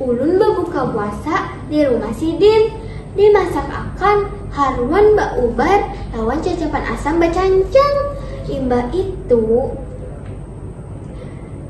Ulun babuka puasa di rumah sidin, dimasak akan haruman baubar lawan cacapan asam bacancang. Imbah itu,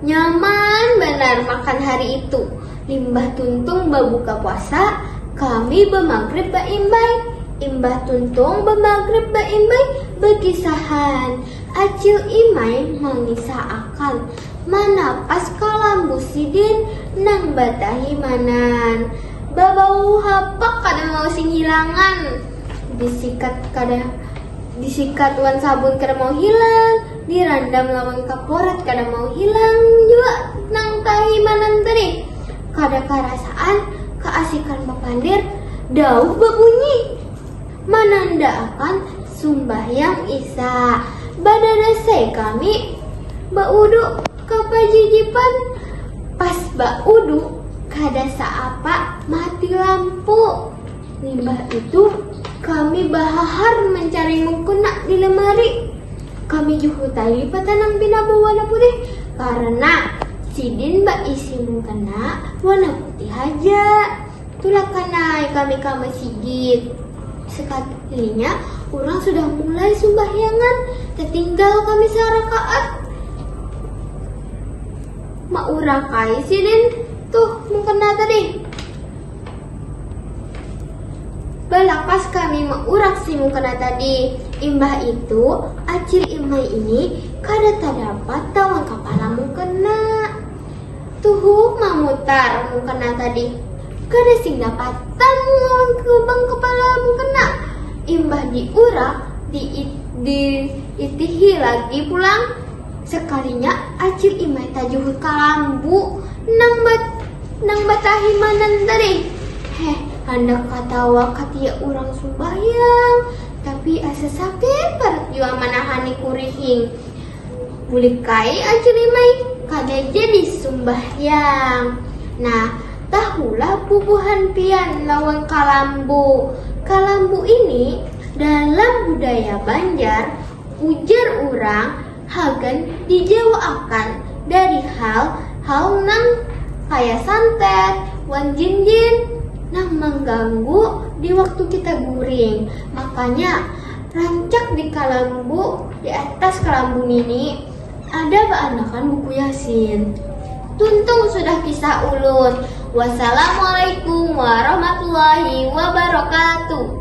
nyaman banar makan hari itu. Limbah tuntung babuka puasa, kami bamagrib baimbai. Imbah tuntung bamagrib baimbai, bakisahan. Acil Imai mangisah akan, Manapas ka lambu sidin nang batahimanan. Babau habak kada mau sing hilangan. Disikat kada disikat wan sabun kada mau hilang, dirandam lawan kaporat kada mau hilang jua nang tahimanan tadi. Kada karasaan kaasikan bapandir, dauh babunyi manandaakan Sumbahyang isya, badadasai kami, baudu ka pajijipan, pas baudu kada saapa mati lampu, limbah itu kami bahahar mancari mukena di lemari, kami juhutai patanam pina bawarna putih karena sidin baisi mukena warna putih haja. Tulakan ai kami ka masigit. Sekalinya urang sudah mulai sumbahyangan, tatinggal kami sarakaat. Maurak ai sidin tuh mukena tadi. Balakas kami maurak si mukena tadi. Imbah itu, acil Imai ini kada tadapat tawan kapala mukena. Tuhuk mamutar mukena tadi. Kada sing dapatan lawan lubang kepala mukena. Imbah diurak, diitihi lagi pulang. Sekalinya Acil Imai tajuhur ka lambu nang nang batahimanan tadi. Heh, handak katawa katiak urang sumbahyang, tapi asa sakit parut jua manahani kurihing. Bulikai aja limai kada jadi sumbahyang. Nah, tahulah bubuhan pian lawan kalambu. Kalambu ini dalam budaya Banjar ujar urang hagan dijauhakan dari hal hal nang kaya santet wan jin-jin nang mangganggu di waktu kita guring. Makanya. Rancak di kalambu, di atas kalambu nini, ada baanakan buku Yasin. Tuntung sudah kisah ulun. Wassalamualaikum warahmatullahi wabarakatuh.